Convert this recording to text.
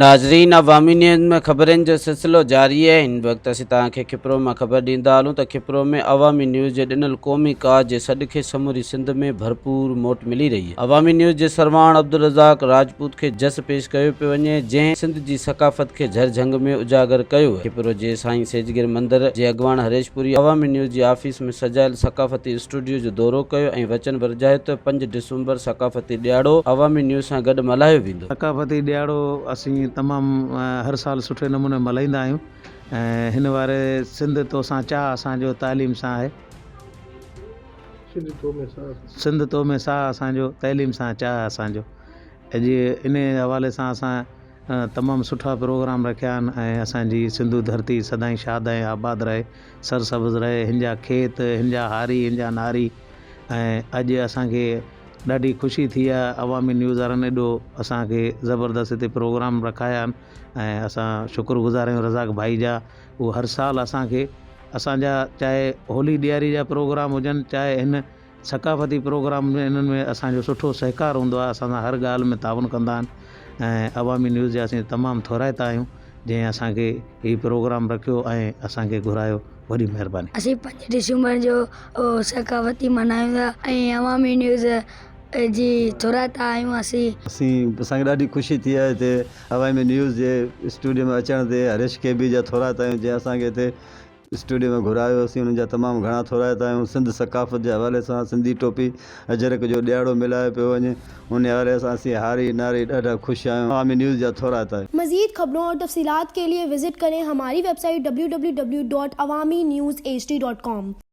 ناظرين عوامي نيوز ۾ خبرين جو سلسلو جاري آهي هن وقت اسين توهان کي کپرو مان خبر ڏيندا هلون ته کپرو ۾ عوامي نيوز جي ڏنل قومي ڪاز جي سڏ کي سموري سنڌ ۾ ڀرپور موٽ ملي رهي آهي عوامي نيوز جي سرواڻ عبدالرزاق راجپوت کي جس پيش ڪيو پيو وڃي جنهن سنڌ جي ثقافت کي جھر جھنگ ۾ اجاگر ڪيو آهي کپرو جي سائين سيجگر مندر جي اڳواڻ هريش پوري عوامي نيوز جي آفيس ۾ سجايل ثقافتي اسٽوڊيو جو دورو ڪيو ۽ وچن ورجايو ته پنج ڊسمبر ثقافتي ڏياڙو عوامي نيوز سان گڏ ملهايو ويندو. ٿيندو. ثقافتي ڏهاڙو اسين تمام هر سال سٺي نموني ملهائيندا آهيون ۽ هن واري سنڌ توسان چاهه اسان جو تعليم سان آهي. سنڌ تو ۾ ساهه اسان جو تعليم سان چاهه اسان جو اڄ انهي حوالي سان اسان تمام سٺا پروگرام رکيا آهن ۽ اسان جي سنڌو ڌرتي سدائين شاد ۽ آباد رهي سرسبز رهي هن جا کيت هن جا هاري هن جا ناري ۽ اڄ اسان کي ڏاڍي خوشي ٿي آهي عوامي نيوز وارن ايڏو اسان کي زبردست هتي پروگرام رکايا آهن ۽ اسان شڪر گذار آهيون رزاق ڀائي جا هو هر سال اسان کي اسان جا چاهي هولي ڏياري جا پروگرام هجن چاهي هن ثقافتي پروگرام ۾ انهن ۾ اسان جو سٺو سهڪار هوندو آهي اسان سان هر ڳالهه ۾ تعاون ڪندا آهن ۽ عوامي نيوز جا اسين تمام ٿورائتا آهيون جنهن اسان کي هي پروگرام رکيو ۽ اسان کي گهرايو وڏي مھرباني. اسين پنج ڊسمبر جو ثقافتي ملهايون ٿا ۽ عوامي نيوز جي ٿورائتا آهيون اسين. اسان کي ڏاڍي خوشي ٿي آهي تي عوامي نيوز جي اسٽوڊيو ۾ اچڻ تي هريش ڪي بي جا ٿورائتا آهيون جنهن اسان کي هتي اسٽوڊيو ۾ گهرايو اسين انهن جا تمام گهڻا ٿورائتا آهيون سنڌ ثقافت جي حوالي سان سنڌي ٽوپي اجرڪ جو ڏيهاڙو ملهايو پيو وڃي، ان حوالي سان اسين هاري ناري ڏاڍا خوش آهيون. عوامي نيوز جا ٿورا تاج. مزيد خبرون اور تفصيلات کے لئے وزٽ کرين ھماري ويب سائيٽ www.awaminewsht.com.